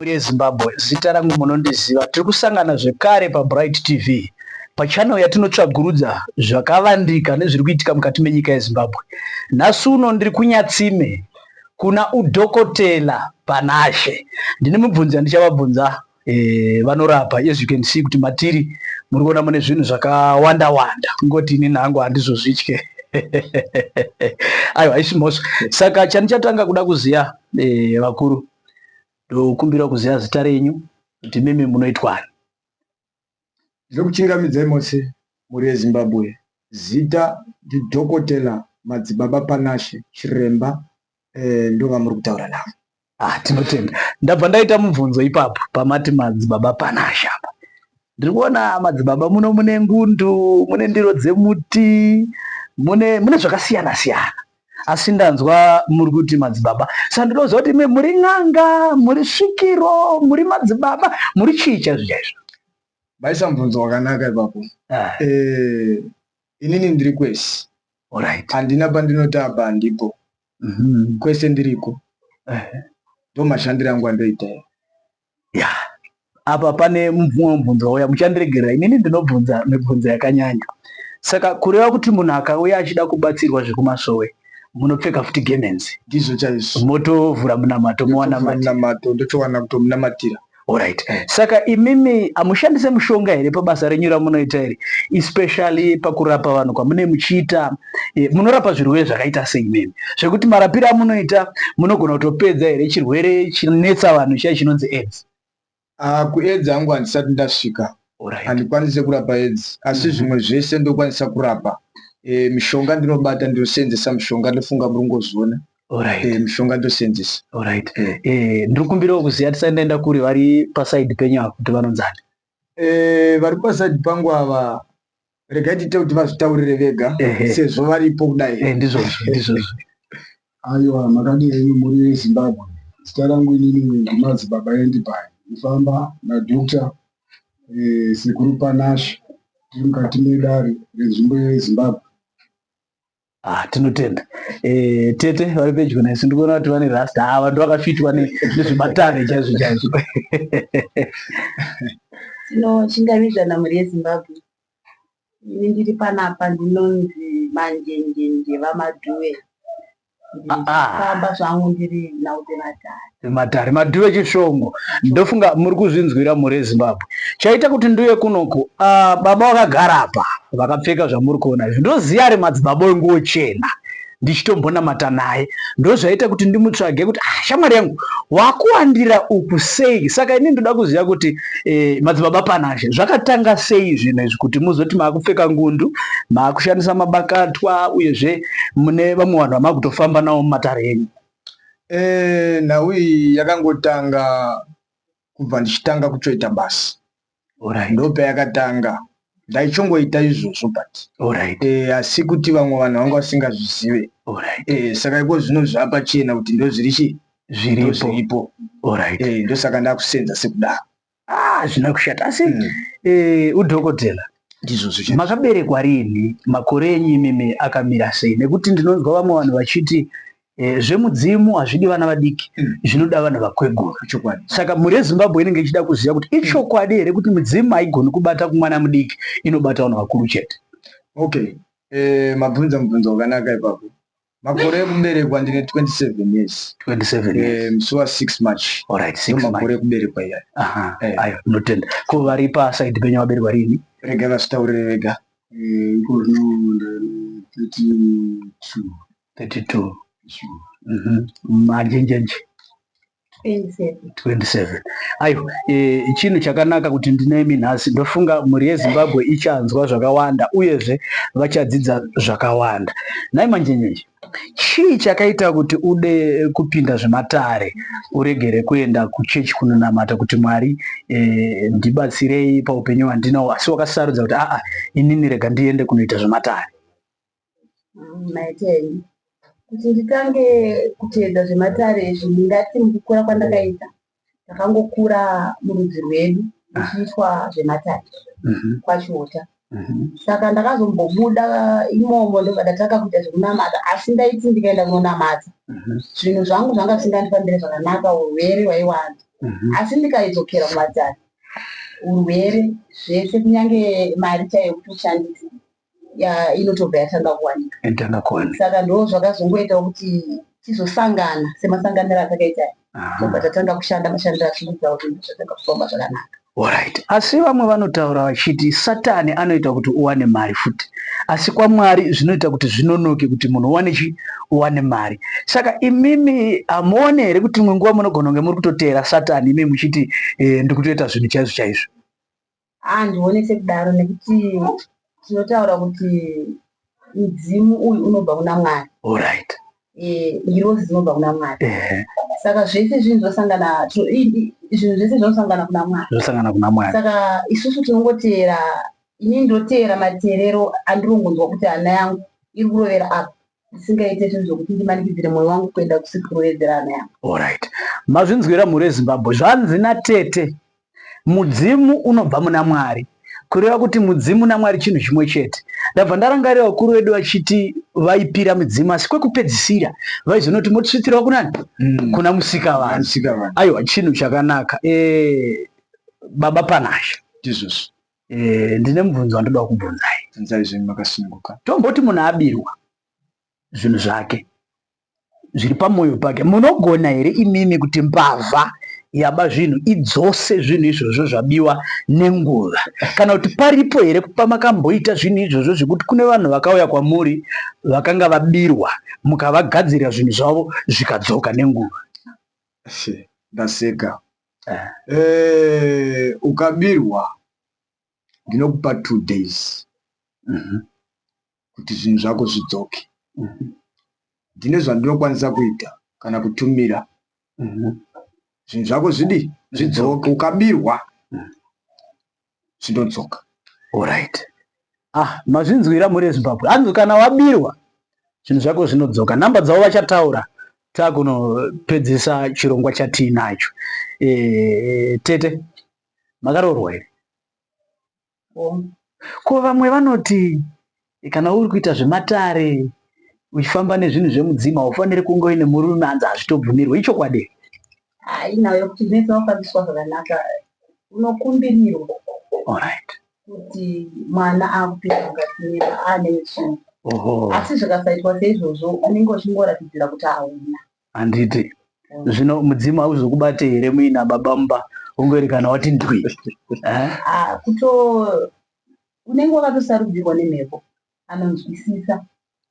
Mhuri Zimbabwe, zita rangu munondiziva. Tiri kusangana zvekare paBright TV pachannel yatinotsvagurudza zvakavandika nezviri kuitika mukati menyika yeZimbabwe. Nhasi uno ndiri kunyatsime kuna udhokotela Panashe. Ndine mubvunzi andichavabvunza eh, vanorapa as you can see kuti matiri muri kuona mune zvinhu zvakawanda wanda kungoti ini nangu handizozvitye aiwa haisi mhosva saka chandichatanga kuda kuziva eh, vakuru Ndokumbira kuziva zita renyu kuti mimi munoitwani. Ndokuchingamidzai mose mhuri yeZimbabwe. Zita ndiDhokotela Madzibaba Panashe Chiremba eh, ndovamuri kutaura navo. Ah, tinotenda. Ndabva ndaita mubvunzo ipapo pamati Madzibaba Panashe apa. Ndiri kuona Madzibaba muno mune ngundu, mune ndiro dzemuti, mune mune zvakasiyana siyana. asi ndanzwa muri kuti madzibaba sandinoziva kuti imi muri n'anga muri svikiro muri madzibaba muri chii chaizvo chaizvo vaisa mubvunzo wakanaka ipapo ah. eh, inini ndiri kwese handina pandinotaba handipo mhm. kwese ndiriko eh. ndo mashandiro angu andoita ya apa pane mumwe mubvunzo wauya muchandiregerera inini ndinobvunza mibvunzo yakanyanya saka kureva kuti munhu akauya achida kubatsirwa zvekumasowe munopfeka futi gemenzi ndizvo chaizvo motovhura munamato mowanamato ndotowana kutomunamatira Alright. Eh. Saka imimi amushandise mushonga here pabasa renyu ramunoita iri especially pakurapa vanhu kwamune muchiita e, munorapa zvirwere zvakaita sei mimi zvekuti marapiro amunoita munogona kutopedza here chirwere chinetsa vanhu chiya chinonzi aids uh, kuaids angu handisati ndasvika handikwanise kurapa aids asi mhm. zvimwe zvese ndokwanisa kurapa e, mishonga ndinobata ndinoseenzesa mishonga ndofunga muri kungozviona Alright. Eh, mishonga ndoseenzesa Alright. Eh. Eh, ndiri kumbirawo kuziva tisati ndaenda kuri vari pasaidi penyu ava kuti vanonzani Eh, vari pasaidi pangu ava regai tiite kuti vazvitaurire vega Ehe. sezvo varipo kudai Eh, ndizvozvo ndizvozvo Aiwa, makadii henyu mhuri yeZimbabwe. Zita rangu inini ndiMazi Baba Endi Pai. Ndifamba naDr eh, Sekuru Panash tiri mukati medare renzvimbo yeZimbabwe. Ah, tinotenda eh, tete vari pedyo nesu ndikuona kuti vane rasta ava ah, ndovakafitwa nezvematare chaizvo chaizvo tinochingamizvana mhuri yezimbabwe ini ndiri panapa ndinonzi manjenjenje vamadhuwe ah, ah. ndifamba zvangu ndiri naute vatare matare madhuve chishongo ndofunga muri kuzvinzwira mhuri yezimbabwe chaita kuti nduye kunoku uh, baba vakagara apa vakapfeka zvamuri kuona izvi ndoziya ari madzibaba wenguwo chena ndichitombonamata naye ndozvaita kuti ndimutsvage kuti ah, shamwari yangu wakuwandira uku sei saka ini ndoda kuziva kuti eh, madzibaba panashe zvakatanga sei zvinhu izvi kuti muzoti maakupfeka ngundu maakushandisa mabakatwa uyezve mune vamwe vanhu vamakutofamba navo mumatare enyu Eh, nhau iyi yakangotanga kubva ndichitanga kutoita basa Alright. ndopayakatanga ndaichongoita izvozvo but Alright. eh, asi kuti vamwe vanhu vanga vasingazvizive Alright. eh, saka iko zvino zvaapachena kuti ndozviri chii Zviripo. ndozviripo Alright. eh, ndosaka ndakusenza sekudaro Ah, hazvina kushata asi mm. eh, udhokotela makaberekwa rini makore enyu imimi akamira sei nekuti ndinonzwa vamwe vanhu vachiti eh, zvemudzimu hazvidi vana vadiki mm. zvinoda vanhu vakweguru saka mhuri yezimbabwe inenge ichida kuziva kuti mm. ichokwadi here kuti midzimu haigoni kubata kumwana mudiki inobata vanhu vakuru chete okay eh, mabvunza mubvunzo wakanaka ipapo Makore ekuberekwa ndine 27 years. 27 years. Eh, musi wa 6 March. All right, 6 March. Makore ekuberekwa iya. Aha. Eh. Ayo, ndotenda. Ko vari pa side penyu vaberekwa rini? Rega vasitaure rega. Eh, iko zvino nda 32. 32. Sure. Mhm. Majenjenje. 27 aiwa e, chinhu chakanaka kuti ndinemi nhasi ndofunga mhuri yezimbabwe ichanzwa zvakawanda uyezve vachadzidza zvakawanda nhai manjenyeji chii chakaita kuti ude kupinda zvematare uregere kuenda kuchechi kunonamata kuti mwari e, ndibatsirei paupenyu hwandinawo asi wakasarudza kuti aa inini rega ndiende kunoita zvematare maita henyu kuti nditange kuteedza zvematare izvi ndingati mukukura kwandakaita ndakangokura murudzi rwedu ichiitwa zvematare mhm. kwachiota mhm. saka ndakazombobuda imomo ndobva ndatanga kuita zvekunamata asi ndaiti ndikaenda kunonamata mhm. zvinhu zvangu zvanga zvisingandifambire zvakanaka urwere hwaiwanda asi ndikaidzokera kumatare urwere zvese kunyange mari chaiyo kutoshandisa ya inotobva yatanga kuwanika yatanga kuwanika saka ndo zvakazongoita kuti tizosangana semasanganiro atakaita tobva tatanga kushanda mashandiro achiita kuti zvatanga kufamba zvakanaka Alright. Asi vamwe vanotaura vachiti satani anoita kuti uwane mari futi asi kwaMwari zvinoita kuti zvinonoke kuti munhu uwane chi uwane mari. Saka imimi hamuone here kuti imwe nguva munogona kunge muri kutoteera satani imimi muchiti e, ndiri kutoita zvinhu chaizvo chaizvo. Handione sekudaro nekuti tinotaura kuti mudzimu uyu unobva kuna Mwari. Alright. Eh, ngirozi dzinobva kuna Mwari. Eh. Saka zvese zvinhu zvosangana zvinhu zvese zvinosangana kuna Mwari. Zvinosangana kuna Mwari. Saka isusu tinongoteera ini ndoteera mateerero andirongonzwa kuti hana yangu iri kurovera apa. zvisingaite zvinhu zvokuti ndimanikidzire mwoyo wangu kuenda kusekuru vedzerana yavo. Alright. Mazvinzwira mhuri yeZimbabwe. Zvanzi natete mudzimu unobva muna Mwari. Kureva kuti mudzimu naMwari chinhu chimwe chete. Ndabva ndarangarira vakuru vedu vachiti vaipira midzimu asi kwekupedzisira vaizonoti motisvitsirwa kunani? Mm. Kuna musika vanhu. Aiwa chinhu chakanaka. E, baba Panashe. Tizvozvo. Eh, ndine mubvunzo wandoda kubvunzai. Bvunzai zvenyu makasununguka. Tomboti munhu abirwa zvinhu zvake zviri pamwoyo pake, munogona here imimi kuti mbavha yaba zvinhu idzose zvinhu izvozvo zvabiwa nenguva kana kuti paripo here pamakamboita zvinhu izvozvo zvekuti kune vanhu vakauya kwamuri vakanga vabirwa mukavagadzirira zvinhu zvavo zvikadzoka nenguva? Ndaseka. Eh, ukabirwa ndinokupa two days mm -hmm. kuti zvinhu zvako zvidzoke mm -hmm. ndine zvandinokwanisa kuita kana kutumira mm -hmm. zvinhu zvako zvidi zvidzoke ukabirwa mm -hmm. zvindodzoka orit ah mazvinzwira mhuri yezimbabwe hanzi kana wabirwa zvinhu zvako zvinodzoka nhamba dzavo vachataura takunopedzisa chirongwa chatiinacho e, eh, tete makaroorwa here ko vamwe vanoti Kana uri kuita zvematare uchifamba nezvinhu zvemudzimu haufaniri kunge uine murume anzi hazvitobvumirwe ichokwadi hainayo kuti mese wafambiswa zvakanaka unokumbirirwa orit kuti mwana akupinda mukati meva ane chii asi zvikasaitwa seizvozvo unenge uchingoratidzira kuti hauna handiti zvino mudzimu hauzokubate here muina baba mumba ungoerekana wati ndwi eh? ah, kuto Unenge wakatosarudzirwa nemhepo anonzwisisa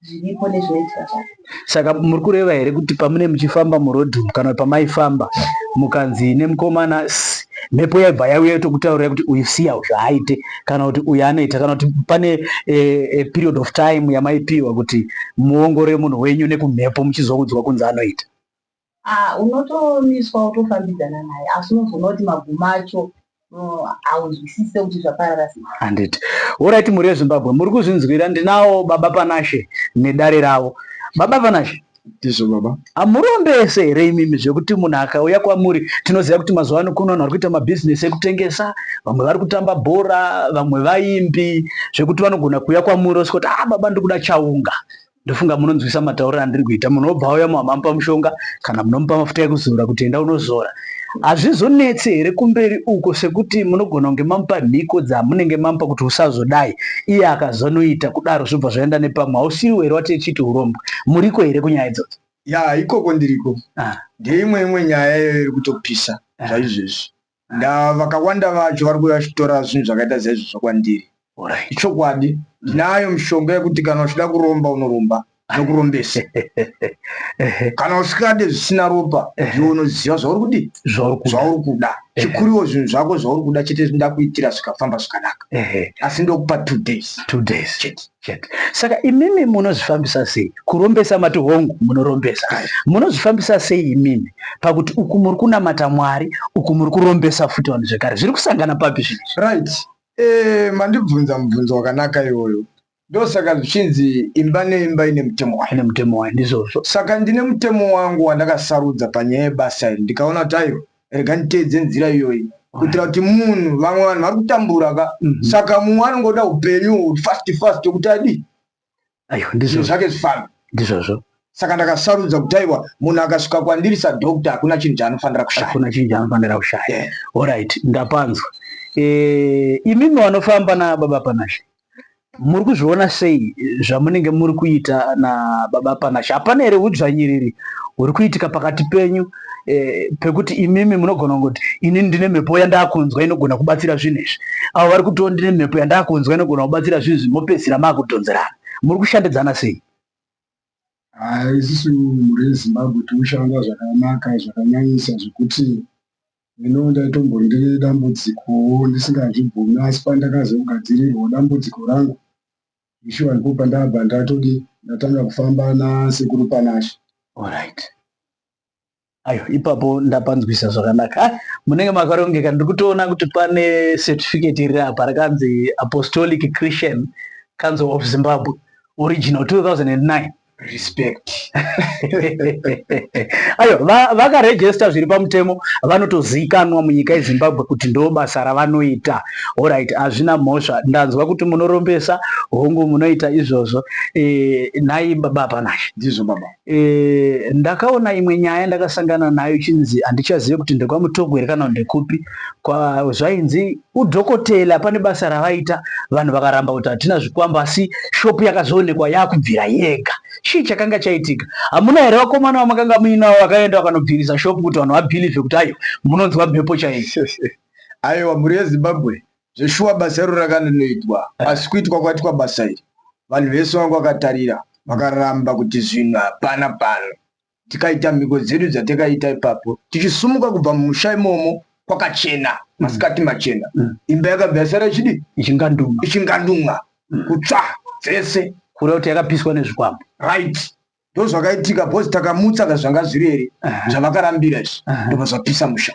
zviripo nezvinoitika zvacho. Saka muri kureva here kuti pamune muchifamba muroad umu kana pamaifamba mukanzi nemukomana mhepo yaibva yauya yotokutaurira kuti uyu siya uyu haaite kana kuti uyu anoita kana kuti pane e, e, period of time yamaipiwa kuti muongorore munhu wenyu nekumhepo muchizoudzwa kunzi anoita ah unotomiswa wotofambidzana naye asi unozoona kuti magumo acho haunzwisise kuti zvaparara sei handiti horaiti mhuri yezimbabwe muri kuzvinzwira ndinawo baba panashe nedare ravo baba panashe ndizvo baba hamurombese here imimi zvekuti munhu akauya kwamuri tinoziva kuti mazuva ano kuno vanhu vari kuita mabhizinesi ekutengesa vamwe vari kutamba bhora vamwe vaimbi zvekuti vanogona kuuya kwamuri osikuti a ah, baba ndiri kuda chaunga ndofunga munonzwisa matauriro andiri kuita munhu obva auya muhamamupa mushonga kana munomupa mafuta ekuzora kuti enda unozora hazvizonetse here kumberi uko sekuti munogona kunge mamupa mhiko dzamunenge mamupa kuti usazodai iye akazonoita kudaro zvobva zvaenda nepamwe hausiriwo here watechiti urombwa muriko here kunyaya idzodzo ya ikoko ndiriko ah. ndeimwe imwe nyaya iyoyo iri kutopisa ah. zvaizvezvi Nda vakawanda vacho vari kuuya vachitora zvinhu zvakaita saizvozvo kwandiri. Alright. Ichokwadi, ndinayo mishonga yekuti kana uchida kuromba unoromba nokurombesa. Ehe, Kana usikade zvisina ropa, iwe unoziva zvauri kudii, zvauri kuda. zvauri kuda. Chikuriwo zvinhu zvako zvauri kuda chete ndakuitira zvikafamba zvakanaka. Ehe, Asi ndokupa two days two days. chete. chete saka imimi munozvifambisa sei kurombesa mati hongu munorombesa munozvifambisa sei imimi pakuti uku muri kunamata mwari uku muri kurombesa futi vanhu zvekare zviri kusangana papi zvinizvi right eh, mandibvunza mubvunzo wakanaka iwoyo ndosaka zvichinzi imba neimba ine mutemo wayo ine mutemo wayo ndizvozvo saka ndine mutemo wangu wandakasarudza panyaya yebasa iri ndikaona kuti aiwa rega nditeedze nzira iyoyi kuitira kuti munhu vamwe vanhu vari kutambura ka mhm. saka mumwe anongoda upenyu fast fast kuti adii ndizvo zvake zvifambe ndizvozvo saka ndakasarudza kuti aiwa munhu akasvika kwandiri sadocta hakuna chinhu chaanofanira kushayakuna chinhu chaanofanira kushaya orit ndapanzwa eh, imimi vanofamba nababa panashe muri kuzviona sei zvamunenge muri kuita nababa Panashe? Hapana here hudzvanyiriri huri kuitika pakati penyu eh, pekuti imimi munogona kungoti ini ndine mhepo yandakunzwa inogona kubatsira zvinhu izvi, avo vari kutiwo ndine mhepo yandakunzwa inogona kubatsira zvinhu izvi, mopedzisira makudhonzerana. Muri kushandidzana sei? Haa, isusu mhuri yeZimbabwe tinoshanda zvakanaka zvakanyanyisa zvekuti Ndinowo ndaitombo ndine dambudzikowo ndisingazvibvumi asi pandakazogadzirirwa dambudziko rangu zvishuwa ndipo pandabva ndatodi ndatanga kufamba nasekuru Panashe. Alright. Ayo ipapo ndapanzwisa zvakanaka. Ah, munenge makarongeka ndiri kutoona kuti pane certificate iri apa rakanzi Apostolic Christian Council of Zimbabwe original 2009. respect ayo vakarejesta va zviri pamutemo vanotoziikanwa munyika yezimbabwe kuti ndo basa ravanoita orit hazvina mhosva ndanzwa kuti munorombesa hongu munoita izvozvo e, nhai baba panai ndizvo baba e, ndakaona imwe nyaya ndakasangana nayo chinzi handichazive kuti ndekwamutogwere kana ndekupi zvainzi Udhokotela pane basa ravaita vanhu vakaramba kuti hatina zvikwambo asi shopu yakazoonekwa yakubvira yega. Chii chakanga chaitika? Hamuna here vakomana vamakanga muinavo vakaenda vakanobvirisa shopu kuti vanhu vabhilivhe kuti ayo munonzwa mhepo chaiyo? Aiwa mhuri yeZimbabwe zveshuwa basa iro rakanonoitwa eh. asi kuitwa kwaitwa basa iri vanhu vese vanga vakatarira vakaramba kuti zvinhu hapana pano tikaita mhiko dzedu dzatakaita ipapo tichisumuka kubva mumusha imomo kwakachena mm. masikati machena mm. imba yakabva yasara ichidi ichingandumwa mm. kutsva dzese kura kuti yakapiswa nezvikwambo right ndozvakaitika bcause takamutsa ka zvanga zviri here zvavakarambira izvi ndobva zvapisa musha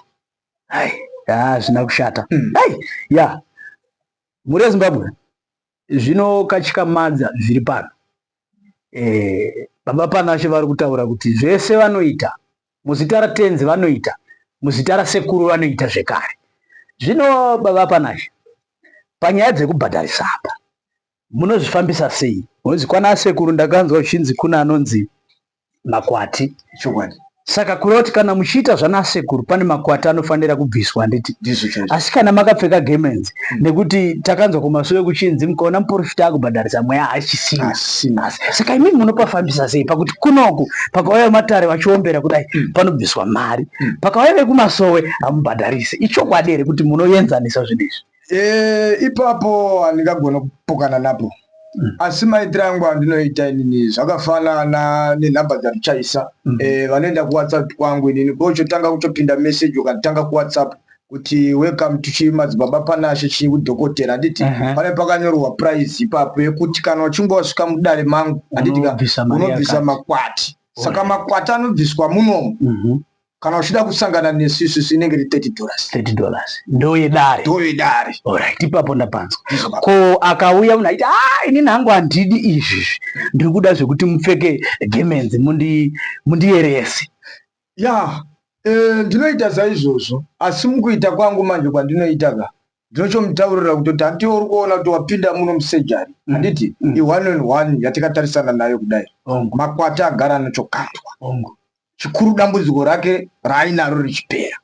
hazvina kushata ya mhuri yezimbabwe zvinokatyamadza zviri pano eh, baba panashe vari kutaura kuti zvese vanoita muzita ratenzi vanoita muzita rasekuru vanoita zvekare zvino baba panashe panyaya dzekubhadharisa apa munozvifambisa sei munonzi kwana sekuru ndakanzwa uchinzi kuna anonzi makwati chokwadi saka kureva kuti kana muchiita zvanasekuru pane makwati anofanira kubviswa handiti asi kana makapfeka gemenzi mm. nekuti takanzwa kumasure kuchinzi mukaona muporofita akubhadharisa mweya haachisina saka imimi munopafambisa sei pakuti kunoku pakauya vematare vachiombera kudai mm. panobviswa mari mm. pakauya vekumasowe hamubhadharise ichokwadi here kuti munoyenzanisa zvinhu izvi Eh, ipapo handingagona kupokana napo mm. asi maitiro angu andinoita inini zvakafanana nenhamba dzandichaisa mm. eh, vanoenda kuwhatsapp kwangu inini ko chotanga kutopinda message ukanditanga kuwhatsapp kuti welcome to chimadzibaba panashe chii kudhokotera handiti uh -huh. pane pakanyorwa price ipapo yekuti kana uchinge wasvika mudare mangu handiti unobvisa makwati saka makwati anobviswa munomu mm -hmm kana uchida kusangana nesu isusu inenge iri 30 dollars 30 dollars ndoyedare ndoyedare alright ipapo ndapanzwa ko akauya munhu aiti ah inini hangu handidi izvi ndiri kuda zvekuti mupfeke gemenzi mundi mundiyerese ya eh, ndinoita saizvozvo asi mukuita kwangu manje kwandinoita ka Ndinochomutaurira kutoti handiwo uri kuona kuti wapinda muno musejari mm. handiti mm. i-one on one yatikatarisana nayo kudai makwati agara anochokandwa chikuru dambudziko rake raainaro richipera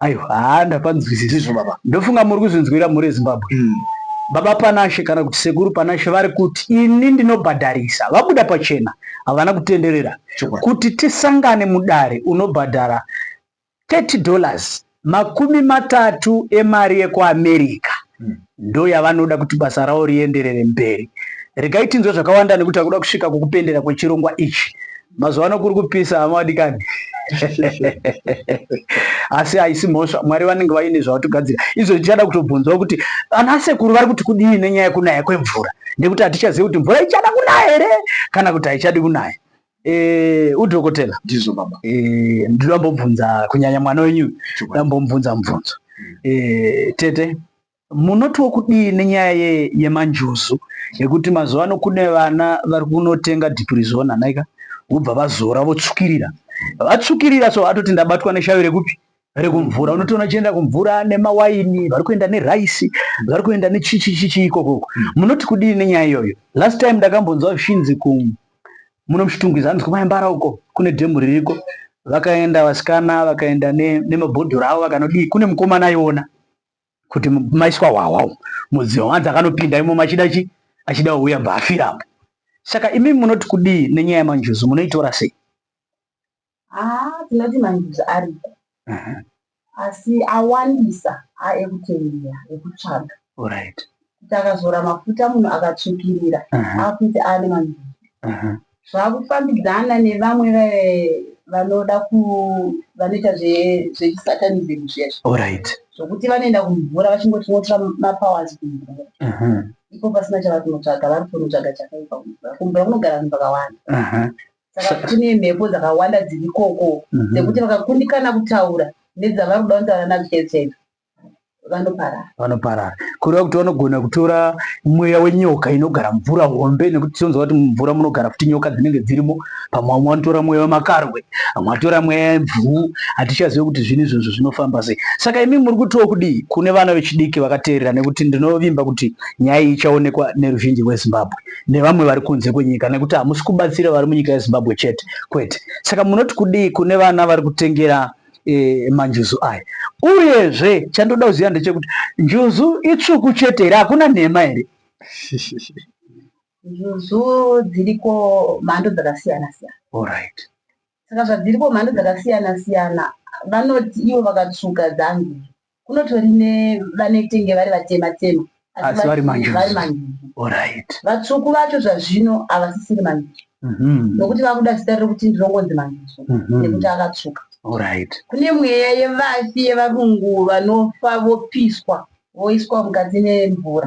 aiwa haa ndapanzwisisizvo baba ndofunga muri kuzvinzwira mhuri yezimbabwe mm. baba panashe kana kuti sekuru panashe vari kuti ini ndinobhadharisa vabuda pachena havana kutenderera kuti tisangane mudare unobhadhara 30 dollars, makumi matatu emari yekuAmerica, hmm. ndoyavanoda kuti basa ravo rienderere mberi. Regai tinzwe zvakawanda nekuti akuda kusvika kukupendera kwechirongwa ichi. Mazuva ano kuri kupisa hama wadikani. asi haisi mhosva mwari vanenge vaine zvavatogadzira izvo tichada kutobvunzawo kuti ana sekuru vari kuti kudii nenyaya yekunaya kwemvura nekuti hatichazivi kuti mvura ichada kunaya here kana kuti haichadi kunaya Eh, udhokotela ndizvo baba eh, ndinoda mbobvunza kunyanya mwana wenyu ndoda mbomubvunza mubvunzo hmm. eh, tete munotiwo kudii nenyaya ye, yemanjuzu yekuti mazuva ano kune vana vari kunotenga dipurizona naika vobva vazora votsvukirira vatsvukirira so atoti ndabatwa neshavi rekupi rekumvura unotoona achienda kumvura nemawaini vari kuenda neraisi vari kuenda nechichichichi ikokoko hmm. munoti kudii nenyaya iyoyo last time ndakambonzwa zvishinzi ku muno muchitungwiza anonzi kumayambara uko kune dhemu ririko vakaenda vasikana vakaenda nemabhodhoro avo vakanodii kune mukomana aiona kuti maiswa hwahwa umu mudziva wanzi akanopinda imomo achida chi achida wauya bva afirapo saka imimi munoti kudii nenyaya yamanjuzu munoitora sei Haa tinoti manjuzu ariko asi awandisa aekutengera ekutsvaga kuti akazora mafuta munhu akatsvukirira akuti aane manjuzu zvakufambidzana nevamwe vanoda vanoita zvechisatanism zviya zvokuti vanoenda kumvura vachingoti tinotora mapowers kumvura iko pasina chavari kunotsvaga vari kunotsvaga chakaipa kumvura kumvura kunogara vanhu vakawanda saka kune mhepo dzakawanda dziri ikoko mhm. dzekuti vakakundikana kutaura nedzavari kuda kutaura nadzo chete chete vanoparara vanoparara kureva kuti vanogona kutora mweya wenyoka inogara mvura hombe nekuti tinonzwa kuti mumvura munogara futi nyoka dzinenge dzirimo pamwe vamwe vanotora mweya wemakarwe vamwe vatora mweya yemvuu hatichazive kuti zvinhu izvozvo zvinofamba sei saka imi muri kutiwo kudii kune vana vechidiki vakateerera nekuti ndinovimba kuti nyaya iyi ichaonekwa neruzhinji rwezimbabwe nevamwe vari kunze kwenyika nekuti hamusi kubatsira vari munyika yezimbabwe chete kwete saka munoti kudii kune vana vari kutengera e, manjuzu aya uyezve chandoda kuziva ndechekuti njuzu itsvuku chete here hakuna nhema here njuzu dziriko mhando dzakasiyana siyana Saka zvadziripo mhando dzakasiyana siyana vanoti ivo vakatsvuka dzanzi kunotori ne vanetenge vari vatema tema asi vari manjuzu vatsvuku vacho zvazvino havasisiri manjuzu mhm. nokuti vakuda zita rekuti ndirongonzi manjuzu mhm. nekuti akatsvuka kune mweya yevafi yevarungu vanofa vopiswa voiswa mukati nemvura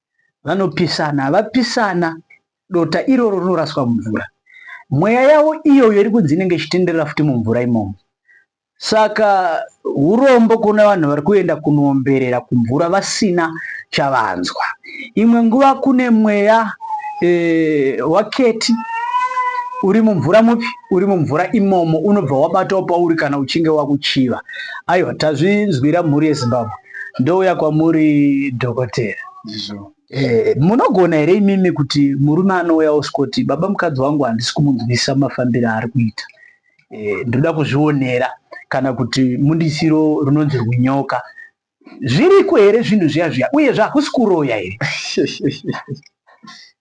vanopisana havapisana dota iroro rinoraswa mumvura mweya yavo iyoyo iri kunzi inenge ichitenderera futi mumvura imomo saka urombo kuona vanhu vari kuenda kunoomberera kumvura vasina chavanzwa imwe nguva kune mweya e, waketi uri mumvura mupi uri mumvura imomo unobva wabatawo pauri kana uchinge wakuchiva aiwa tazvinzwira mhuri yezimbabwe ndouya kwamuri dhokotera eh, munogona here imimi kuti murume anouya osikoti baba mukadzi wangu handisi kumunzwisisa mafambiro aari kuita eh, ndoda kuzvionera kana kuti mundisiro runonzi runyoka zviriko here zvinhu zviya zviya uye zvakusi kuroya here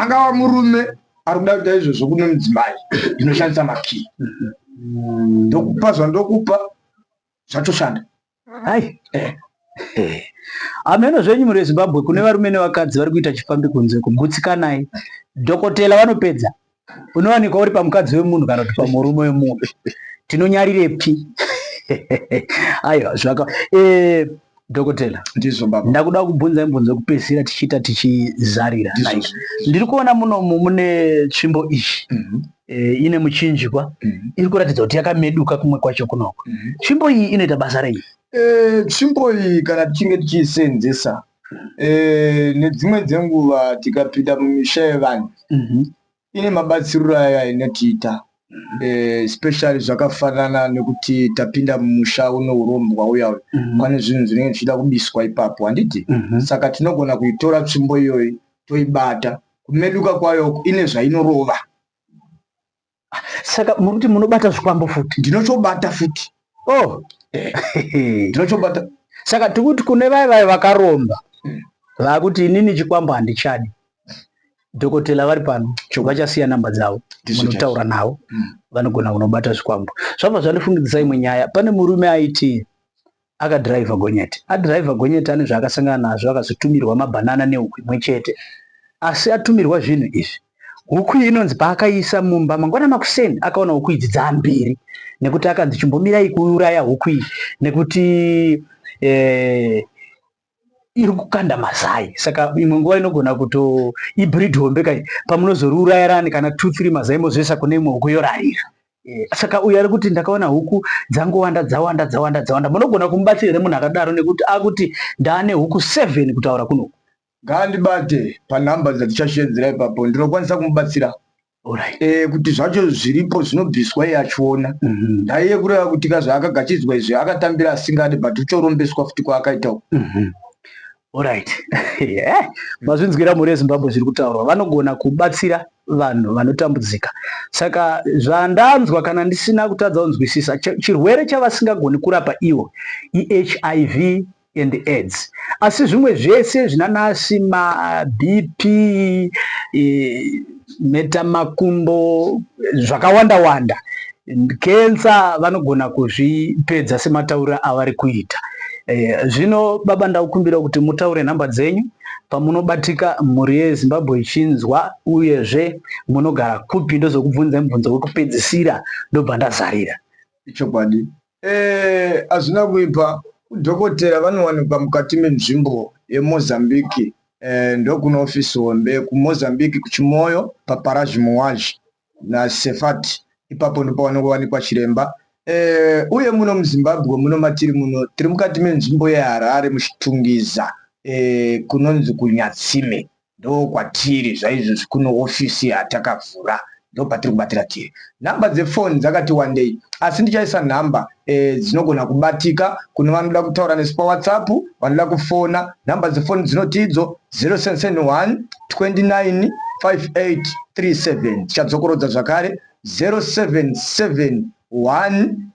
angava murume ari kuda kuita izvozvo kune mudzimai inoshandisa makii mm-hmm. ndokupa zvandokupa zvatoshanda hai eh. eh. ameno zvenyu muri vezimbabwe kune varume nevakadzi vari kuita chifambi kunze kugutsikanayi dhokotela vanopedza unowanikwa uri pamukadzi wemunhu kana kuti pamurume wemunhu tinonyarirepi aiwa zvaka eh, dhokotela ndakuda kubvunza imbunzo yekupedzisira tichiita tichizarira ndiri kuona munomu mune tsvimbo iyi mhm. eh, ine muchinjikwa mhm. iri kuratidza kuti yakameduka kumwe kwacho kunoko mhm. tsvimbo iyi inoita basa rei eh, tsvimbo iyi kana tichinge tichiisenzesa e, nedzimwe dzenguva tikapinda mumisha yevanhu mm -hmm. ine mabatsiriro ayo ainotiita Eh, especially zvakafanana nekuti tapinda mumusha uno urombwa uya uyu mhm. pane zvinhu zvinenge zvichida kubiswa ipapo handiti mhm. saka tinogona kuitora tsvimbo iyoyi toibata kumeduka kwayo ine zvainorova saka muri kuti munobata zvikwambo futi ndinotobata futi oh eh. ndinotobata saka tiri kuti kune vaye vaye vakaromba hmm. vakuti inini chikwambo handichadi dhokotela vari pano chobva chasiya namba dzavo munotaura navo hmm. vanogona kunobata zvikwambo zvabva zvandifungidzisa imwe nyaya pane murume aiti Akadhiraivha gonyeti. Adhiraivha gonyeti ane zvaakasangana nazvo akazotumirwa mabhanana nehuku imwe chete. Asi atumirwa zvinhu izvi, huku iyi inonzi paakaiisa mumba mangwana makuseni akaona huku idzi dzaambiri nekuti akanzi chimbomirai kuuraya huku iyi nekuti eh, iri kukanda mazai saka imwe nguva inogona kuto ibreed hombe kai pamunozoriurayirani kana two three mazai mozoisa kune imwe huku yorarira eh, saka uyu ari kuti ndakaona huku dzangowanda dzawanda dzawanda dzawanda munogona kumubatsira here munhu akadaro nekuti akuti ndaane huku seven kutaura kunoku ngaandibate panumber dzatichashedzera ipapo ndinokwanisa kumubatsira Alright. Eh, kuti zvacho zviripo zvinobviswa iye achiona Mhm. ndaiye kureva kuti ka zvaakagachidzwa izvi akatambira asingadi but uchorombeswa futi kwaakaita uku Mhm. Alright. Eh, mazvinzwira mhuri yezimbabwe zviri kutaurwa vanogona kubatsira vanhu vanotambudzika saka zvandanzwa kana ndisina kutadza kunzwisisa chi- chirwere chavasingagoni kurapa ivo ihiv and aids asi zvimwe zvese zvinanasi mabp eh, metamakumbo zvakawanda wanda kensa vanogona kuzvipedza sematauriro avari kuita eh, zvino baba ndakukumbira kuti mutaure nhamba dzenyu pamunobatika mhuri yezimbabwe ichinzwa uyezve munogara kupi ndozokubvunza mubvunzo wekupedzisira ndobva ndazarira ichokwadi Eh, azvina kuipa dhokotera vanowanikwa mukati menzvimbo yemozambique eh, ndokune ofisi hombe kumozambique kuchimoyo paparage muwaj nasefat ipapo ndipo vanongowanikwa chiremba eh, uye muno muzimbabwe muno matiri muno tiri mukati menzvimbo yeharare muchitungiza eh, kunonzi kunyatsime Ndokwatiri zvaizvozvi kuno office yatakavhura ndopatiri kubatira tiri. Number dze phone dzakati wandei asi ndichaisa number e, dzinogona kubatika kune vanoda kutaura nesu pa WhatsApp vanoda kufona. Number dze phone dzinoti idzo 0771 29 5837 tichadzokorodza zvakare 0771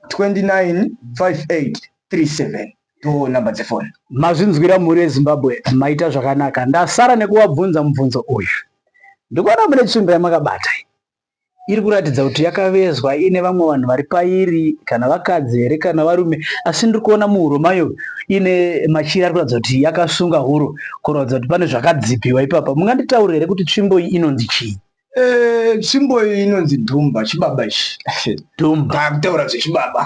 29 5837. towo number dzefoni. Mazvinzwira mhuri yeZimbabwe maita zvakanaka ndasara nekuvabvunza mubvunzo uyu. Ndikuona mune tsvimbo yamakabata iri kuratidza kuti yakavezwa ine vamwe vanhu vari pairi kana vakadzi here kana varume asi ndiri kuona muhuro mayo ine machira ari kuratidza kuti yakasunga huro kuratidza kuti pane zvakadzipiwa ipapa munganditaurira here kuti tsvimbo iyi inonzi chii Eh, tsvimbo iyi inonzi dhumba chibaba ichi dhumba taakutaura zvechibaba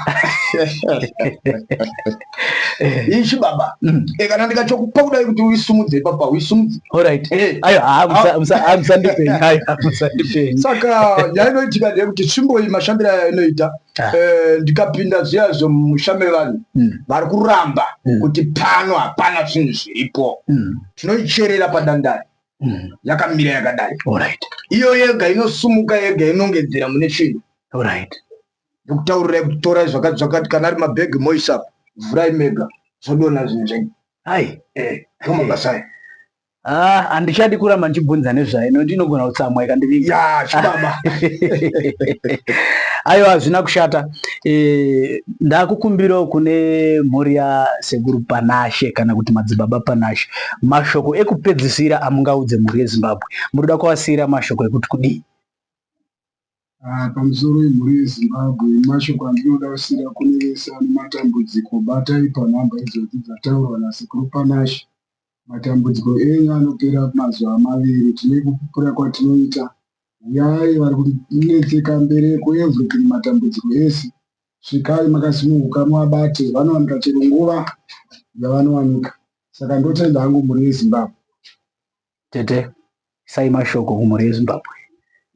iyi chibaba mm. eh, kana ndikachokupa kudai kuti uisumudze ipapa uisumudze orit eh. ayo hamusandipeni saka yainoitika ndeye kuti tsvimbo iyi mashambiro ayo inoita ah. ndikapinda zviya zvomusha mevanhu mm. vari kuramba mm. kuti pano hapana zvinhu zviripo tinoicherera padandari mm. yakamira yakadai right. iyo yega inosumuka yega inongedzera mune chinhu right. ndokutaurirai kuti torai zvakati zvakati kana ari mabhegi moisap vhurai mega zvodona zvinhu zvenyu hai eh, zvomabasa aya Ah, handichadi kuramba ndichibvunza nezvayo nokuti inogona kutsamwa ikandiviga ya chibaba aiwa hazvina kushata e, ndakukumbirawo kune mhuri yasekuru panashe kana kuti madzibaba panashe Mashoko ekupedzisira amungaudze mhuri yeZimbabwe munoda kuvasiira mashoko ekuti kudii? Ah, pamusoro wemhuri yezimbabwe mashoko andinoda kusira kune vese ane matambudziko batai panhamba idzodzi dzataurwa nasekuru panashe matambudziko enyu anopera mazuva maviri tine kupupura kwatinoita huyai vari kunetseka mbereko everything matambudziko ese svikai makasununguka muabate vanowanika chero nguva yavanowanika Saka ndotenda hangu mhuri yeZimbabwe. Tete, isai mashoko kumhuri yeZimbabwe.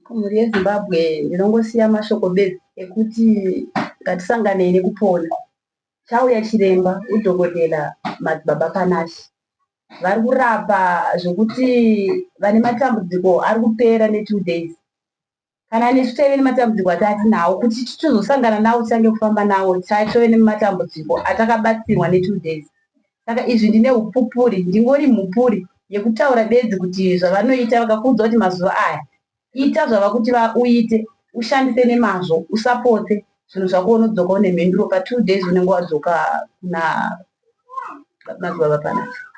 Kumhuri yeZimbabwe ndinongosiya mashoko bedzi ekuti ngatisanganei nekupona. Chauya chiremba udhokodhera Madzibaba Panashe. Vari kurapa zvekuti vane matambudziko ari kupera ne two days. kana nesu taive nematambudziko ataatinawo kuti titozosangana nawo tichange kufamba nawo taive nematambudziko atakabatsirwa netwo days saka izvi ndine upupuri ndingori mhupuri yekutaura bedzi kuti zvavanoita vakakuudza kuti mazuva aya ita zvava kuti vauite ushandise nemazvo usapotse zvinhu zvako unodzoka une mhinduro patwo days unenge wadzoka kuna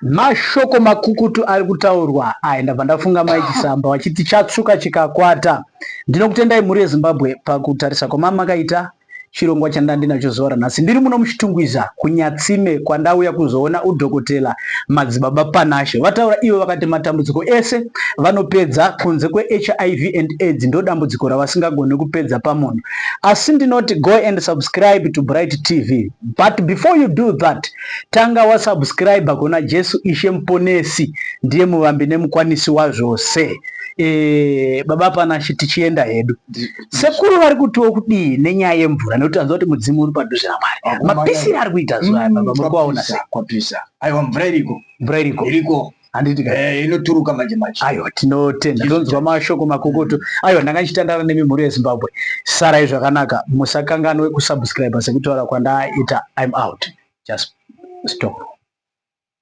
mashoko makukutu ari kutaurwa aya ndabva ndafunga mai chisamba vachiti chatsvuka chikakwata ndinokutendai mhuri yezimbabwe pakutarisa kwamamakaita chirongwa chandandinacho zuva ranhasi ndiri muno muchitungwiza kunyatsime kwandauya kuzoona udhokotela madzibaba panashe vataura ivo vakati matambudziko ese vanopedza kunze kwehiv and aids ndodambudziko ravasingagoni kupedza pamunhu asi ndinoti go and subscribe to bright tv But before you do that, tanga wa subscribe kuna Jesu Ishe Mponesi, ndiye muvambi nemukwanisi wazvose. E, baba Panashe tichienda hedu. Sekuru vari kutiwo kudii nenyaya yemvura nekuti tanzwa kuti mudzimu uri padhuze naMwari. Mapisire ari kuita zuva mm, baba muri kuaona sei? Kwapisa. Aiwa mvura iriko. Mvura iriko. Iriko. handiti eh, inoturuka manje manje aiwa tinotenda tonzwa mashoko makukutu aiwa ndanga ndichitandara nemi mhuri yezimbabwe sarai zvakanaka musakanganwe kusubscribe sekutaura kwandaita im out just stop